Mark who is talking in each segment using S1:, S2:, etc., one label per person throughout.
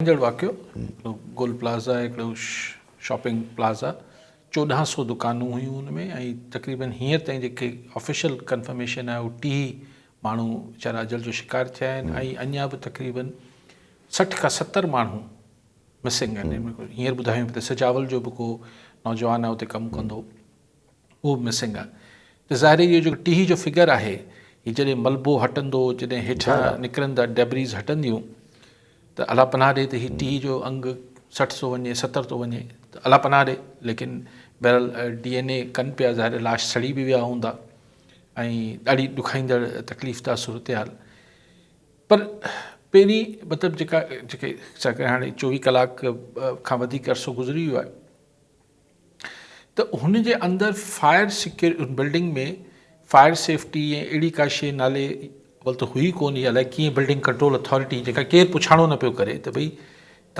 S1: ايندڙ واقعو هڪڙو گول پلازا هڪڙو شاپنگ پلازا چوڏهن سو دڪانون هيون ان ۾ ۽ تقريبن هينئر تائين جيڪي آفيشل ڪنفرميشن آهي اهو ٽيهي ماڻهو ويچارا اجل جو شڪار ٿيا آهن ۽ اڃا به تقريبن سٺ کان ستر ماڻهو مسنگ آهن هينئر ٻڌايو پيو ته سجاول جو به ڪو نوجوان آهي اتي ڪم ڪندو اهو به مسنگ آ ته ظاهر اهو جيڪو ٽيهي جو فگر آهي هي جڏهن ملبو هٽندو جڏهن هيٺان نڪرندا ڊيبريز هٽنديون ته الله پناهه ڏي ته هي ٽيهي جو انگ سٺ ٿو وڃي ستر ٿو وڃي ته الله پناهه ڏي ليڪن بهرحال ڊي اين اي ڪن پيا ظاهر لاش سڙي به ويا هوندا ۽ ڏاڍي ڏکائيندڙ تڪليف دا صورتحال پر پهرين مطلب جيڪا جيڪي هاڻي چوويهه ڪلاڪ کان وڌيڪ عرصو گذري ويو آهي ته هن جي اندر فائر سيڪيو بلڊنگ ۾ فائر سيفٽي ۽ اهڙي ڪا شيء نالي اول ته هئي ڪونه يا الائي ڪيئن بلڊنگ ڪنٽرول اٿارٽي جيڪا ڪير پڇاڻو نه پيو ڪري ته ڀئي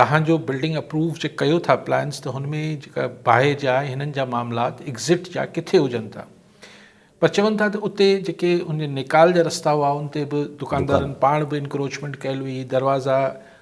S1: توهان جو بلڊنگ اپروو جي ڪيو ٿا پلانس ته هن ۾ جيڪا باهه جا ۽ هنن جا معاملات ايگزٽ جا ڪٿي هجن ٿا پر چون ٿا ته اتي جيڪي ان نيڪال جا رستا هئا ان تي به دڪاندارن پاڻ به انڪروچمينٽ ڪيل هئي دروازا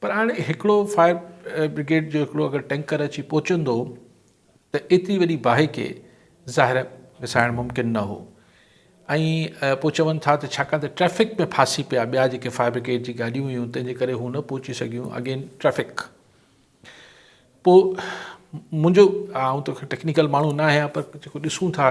S1: پر هاڻي هڪڙو فائر برگيڊ جو هڪڙو اگر ٽينڪر اچي پهچندو ته ايتري وڏي باهه کي ظاهر وسائڻ ممڪن نه هو ۽ پوء چون ٿا ته ڇاڪاڻ ته ٽريفڪ ۾ ڦاسي پيا ٻيا جيڪي فائر برگيڊ جي گاڏيون هيون تنهن جي ڪري هو نه پهچي سگهيون اگين ٽريفڪ پوء منهنجو آئون ته ٽيڪنيڪل ماڻهو نه آهيان پر جيڪو ڏسون ٿا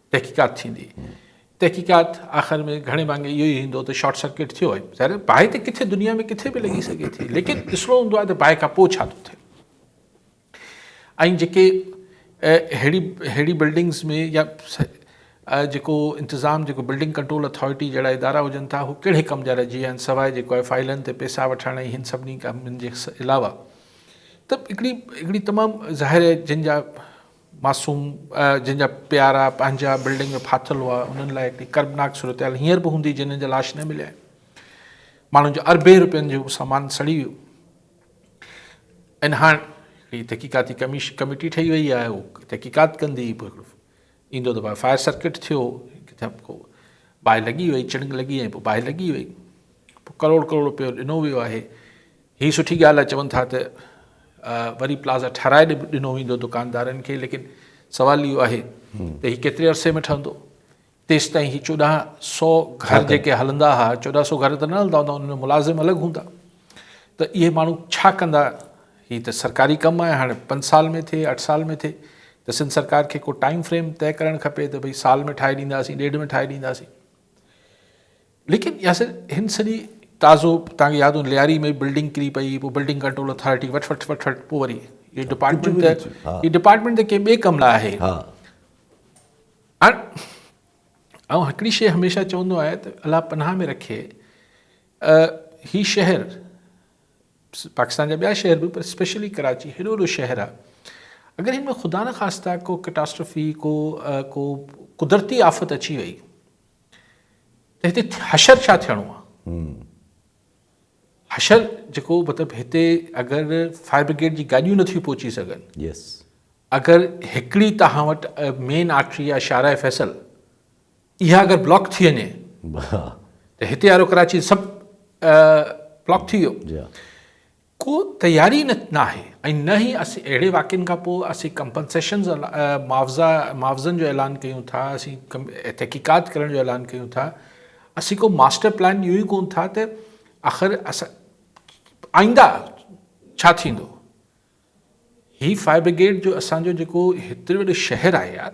S1: تحقيقات ٿيندي تحقيقات آخر ۾ گهڻي ڀاڱي اهو ئي ايندو ته شارٽ سرڪٽ ٿيو آهي ظاهر باهه ته ڪٿي دنيا ۾ ڪٿي به لڳي سگهي ٿي ليڪن ڏسڻو هوندو آهي ته باهه کان پوء ڇا ٿو ٿئي ۽ جيڪي اهڙي اهڙي بلڊنگس ۾ يا جيڪو انتظام جيڪو بلڊنگ ڪنٽرول اٿارٽي جهڙا ادارا هجن ٿا هو ڪهڙي ڪم جا رهجي ويا آهن سواء جيڪو آهي فائلن تي پيسا وٺڻ ۽ هن سڀني ڪمن جي علاوه ته هڪڙي هڪڙي تمام ظاهر جن جا معصوم جن جا پيارا پنهنجا بلڊنگ ۾ ڦاٿل هئا انهن لاء هڪڙي ڪربناڪ صورتحال هينئر به هوندي جنهن جا لاش نه مليا آهن ماڻهن جو اربين روپين جو سامان سڙي ويو ۽ هاڻ هڪڙي تحقيقاتي ڪميش ڪميٽي ٺهي وئي آهي هو تحقيقات ڪندي به هڪڙو ايندو ته باهه فائر سرڪٽ ٿيو ڪٿا ڪو باهه لڳي وئي چڻنگ لڳي ۽ پوء باهه لڳي وئي پوء ڪروڙ ڪروڙ روپيو ڏنو ويو آهي هي سٺي ڳالهه آهي چون ٿا ته وري پلازا ٺهرائي ڏنو ويندو دڪاندارن کي ليڪن سوال اهو آهي ته هي ڪيتري عرصي ۾ ٺهندو تيستائين هي چوڏهن سو گهر جيڪي هلندا هئا چوڏهن سو گهر ته نه هلندا هوندا انهن ۾ ملازم الڳ هوندا ته اهي ماڻهو ڇا ڪندا هي ته سرڪاري ڪم آهي هاڻي پنج سال ۾ ٿئي اٺ سال ۾ ٿئي ته سنڌ سرڪار کي کو ٽائم فريم طئي ڪرڻ کپي ته ڀئي سال ۾ ٺاهي ڏينداسين ڏيڍ ۾ ٺاهي ڏينداسين ليڪن ياسر هن سڄي تازو توهان کي ياد هوندو لياري ۾ بلڊنگ ڪري پئي پوء بلڊنگ ڪنٽرول اٿارٽي وٺ وٺ وٺ وٺ پوء وري هي ڊپارٽمنٽ ته هي ڊپارٽمنٽ ته ڪنهن ٻئي ڪم لاء آهي آئون هڪڙي شيء هميشه چوندو آهيان ته الله پناهه ۾ رکي هي شهر پاڪستان جا ٻيا شهر به پر اسپيشلي ڪراچي هيڏو وڏو شهر آهي اگر هن ۾ خدا نه خاصتا ڪو ڪٽاسٽرفي ڪو ڪو قدرتي آفت اچي وئي ته هتي حشر ڇا ٿيڻو آهي؟ حشر جيڪو مطلب هتي اگر فائر برگيڊ جي گاڏيون نٿيون پهچي سگهن اگر هڪڙي تهان وٽ مين آرٽري يا شارع فيصل اها اگر بلاڪ ٿي وڃي ته هتي وارو ڪراچي سڀ بلاڪ ٿي ويو ڪو تياري نه ناهي ۽ نه ئي اسين اهڙي واقعن کان پوء اسين ڪمپنسيشنز معاوضا معاوضن جو اعلان ڪيون ٿا اسين تحقيقات ڪرڻ جو اعلان ڪيون ٿا اسين ڪو ماسٽر پلان اهو ئي ڪون ٿا ته آخر اسان آئنده ڇا ٿيندو هي فائر برگيڊ جو اسان جو جيڪو هيتري وڏو شهر آهي يار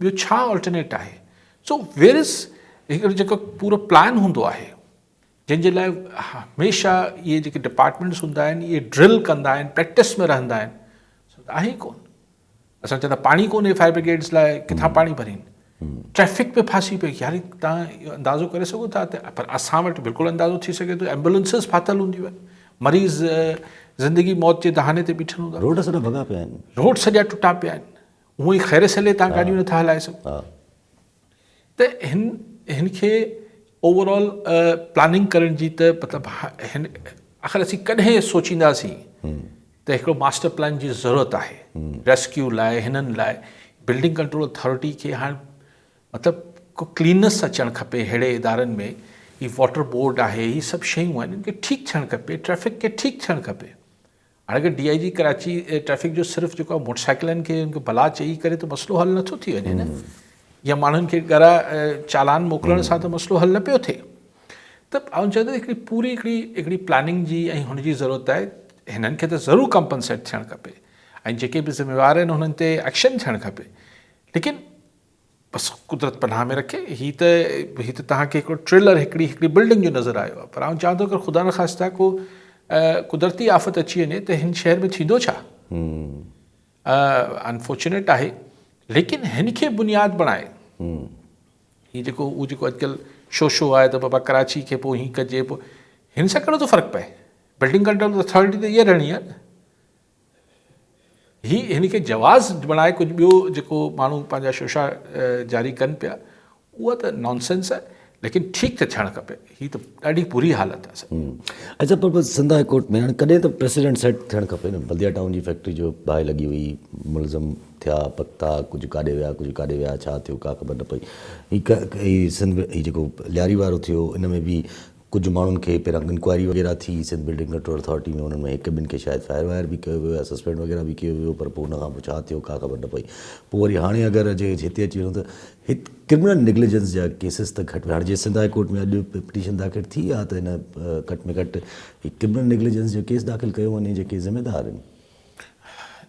S1: ٻيو ڇا الٽرنيٽ آهي سو ويرس هڪڙو جيڪو پورو پلان هوندو آهي جنهن جي لاء هميشه اهي جيڪي ڊپارٽمينٽس هوندا آهن اهي ڊرل ڪندا آهن پريڪٽس ۾ رهندا آهن سو ته آهي ڪون اسان چوندا پاڻي ڪونهي فائر برگيڊس لاء ڪٿان پاڻي ڀرين ٽريفڪ ۾ ڦاسي پئي يار تان اندازو ڪري سگهو ٿا پر اسان وٽ بلڪل اندازو ٿي سگهي ٿو ايمبولنسز ڦاٿل هونديون آهن مريض زندگي موت جي دهاني تي بيٺل هوندا روڊ سڄا ڀڳا پيا آهن
S2: روڊ سڄا ٽٽا پيا
S1: آهن هونء ئي خير سهيلي تان گاڏيون نٿا هلائي سگهو ته هن هن کي اوور آل پلاننگ ڪرڻ جي ته مطلب هن آخر اسين ڪڏهن سوچينداسين ته هڪڙو ماسٽر پلان جي ضرورت آهي ريسڪيو لاء هنن لاء بلڊنگ ڪنٽرول اٿارٽي کي هاڻ مطلب کو ڪلينس اچڻ کپي ههڙي ادارن ۾ هي واٽر بورڊ آهي هي سڀ شيون آهن ان کي ٺيڪ ٿيڻ کپي ٽريفڪ کي ٺيڪ ٿيڻ کپي هاڻي D I G Karachi traffic جو صرف جيڪو آهي موٽر سائيڪلن کي ان کي بلا چئي ڪري ته مسئلو حل نٿو ٿي وڃي نه يا ماڻهن کي ڳرا چالان موڪلڻ سان ته مسئلو حل نه پيو ٿئي ته آئون چاهيان ٿو هڪڙي پوري هڪڙي هڪڙي پلاننگ جي ۽ هن جي ضرورت آهي هنن کي ته ضرور ڪمپنسيٽ ٿيڻ کپي ۽ جيڪي به ذميوار آهن هنن تي ايڪشن ٿيڻ کپي ليڪن بس قدرت پناهه ۾ رکي هي ته هي ته توهان کي هڪڙو ٽريلر هڪڙي هڪڙي بلڊنگ جو نظر آيو آهي پر آئون چاهان ٿو اگر خدا نخواسته ڪو قدرتي آفت اچي وڃي ته هن شهر ۾ ٿيندو ڇا انفارچونيٽ آهي ليڪن هن کي بنياد بڻائي هي جيڪو اهو جيڪو اڄڪلهه شو شو آهي ته بابا ڪراچي کي پوء هي ڪجي پوء هن سان ڪهڙو ٿو فرق پئي بلڊنگ ڪنٽرول اٿارٽي ته اها رهڻي آهي هي هن کي جواز بڻائي ڪجهه ٻيو جيڪو ماڻهو پنهنجا شوشا جاري ڪن پيا اها ته نان سينس آهي ليڪن ٺيڪ ته ٿيڻ کپي هي ته ڏاڍي بري حالت آهي اچھا پر
S2: سنڌ هاء ڪورٽ ۾ هاڻي ڪڏهن ته پريسيڊنٽ سيٽ ٿيڻ کپي نه بلديا ٽائون جي فيڪٽري جو باهه لڳي هئي ملزم ٿيا پڪتا ڪجهه ڪاڏي ويا ڪجهه ڪاڏي ويا ڇا ٿيو ڪا خبر نه پئي هي سنڌ هي جيڪو لياري وارو ٿيو ان ۾ به ڪجهه ماڻهن کي پهريان انڪوائري وغيره ٿي سنڌ بلڊنگ ڪنٽرول اٿارٽي ۾ انهن ۾ هڪ ٻن کي شايد فائر وائر به ڪيو ويو يا سسپينڊ وغيره به ڪيو ويو پر پوء ان کان پوء ڇا ٿيو ڪا خبر نه پئي پوء وري هاڻي اگر جي هتي اچي وڃون ته هت ڪرمنل نيگليجنس جا ڪيسز ته گهٽ ۾ هاڻي جي سنڌ هاء ڪورٽ ۾ اڄ پٽيشن داخل ٿي آ ته هن گهٽ ۾ گهٽ هي ڪرمنل نيگليجنس جو ڪيس داخل ڪيو وڃي جيڪي ذميدار آهن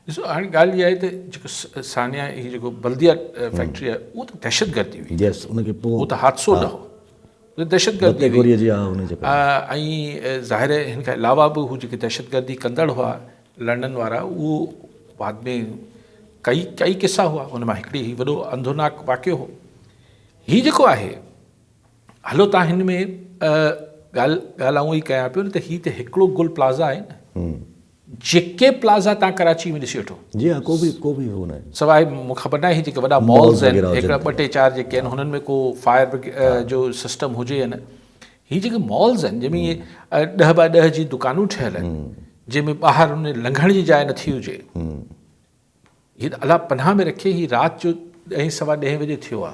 S1: ڏسو هاڻي ڳالهه اها آهي ته جيڪو ثانيا هي جيڪو بلديا فيڪٽري آهي اهو ته دهشتگردي هئي يس ان کي پوء اهو ته
S2: حادثو نه هو
S1: دهشتگردي هئي ۽ ظاهر آهي هن کان علاوه به هو جيڪي دهشتگردي ڪندڙ هئا لنڊن وارا اهو بعد ۾ ڪئي ڪئي قصا هئا ان مان هڪڙي هي وڏو انڌوناڪ واقعو هو هي جيڪو آهي هلو تان هن ۾ ڳالهه ڳالهه آئون هي ڪيان پيو ته هي ته هڪڙو گل پلازا آهي نه جيڪي پلازا تان ڪراچي ۾ ڏسي وٺو. جي ها ڪو به ڪو به
S2: هو ناهي. سواء مون کي خبر ناهي
S1: هي جيڪي وڏا مالز آهن هڪڙا ٻه ٽي چار جيڪي آهن هنن ۾ ڪو فائر برگيڊ جو سسٽم هجي يا نه هي جيڪي مالز آهن جنهن ۾ ائين ڏهه باء ڏهه جي دڪانون ٺهيل آهن جنهن ۾ ٻاهر ان لنگهڻ جي جاء نٿي هجي. جن الله پناهه ۾ رکي هي رات جو ڏهين سوا ڏهين بجي ٿيو آ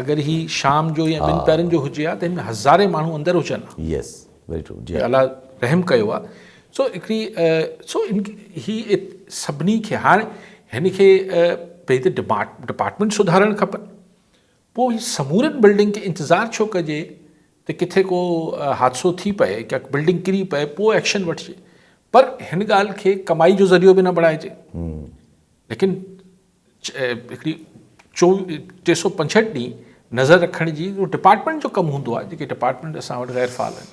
S1: اگر هي شام جو يا ٻن پهرن جو هجي ها ته هن ۾ هزارين ماڻهو اندر هجن ها يس ويري ٽرو
S2: جي الله رحم ڪيو
S1: آ سو هڪڙي سو هي سڀني کي هاڻ هن کي پنهنجي ڊپارٽمنٽ سڌارڻ کپن پوء هي سمورين بلڊنگ کي انتظار ڇو ڪجي ته ڪٿي ڪو حادثو ٿي پئي ڪا بلڊنگ ڪري پئي پوء ايڪشن وٺجي پر هن ڳالهه کي ڪمائي جو ذريعو به نه بڻائجي ليڪن هڪڙي چو ٽي سو پنجهٺ ڏينهن نظر رکڻ جي ڊپارٽمينٽ جو ڪم هوندو آهي جيڪي ڊپارٽمينٽ اسان وٽ غير فعال آهن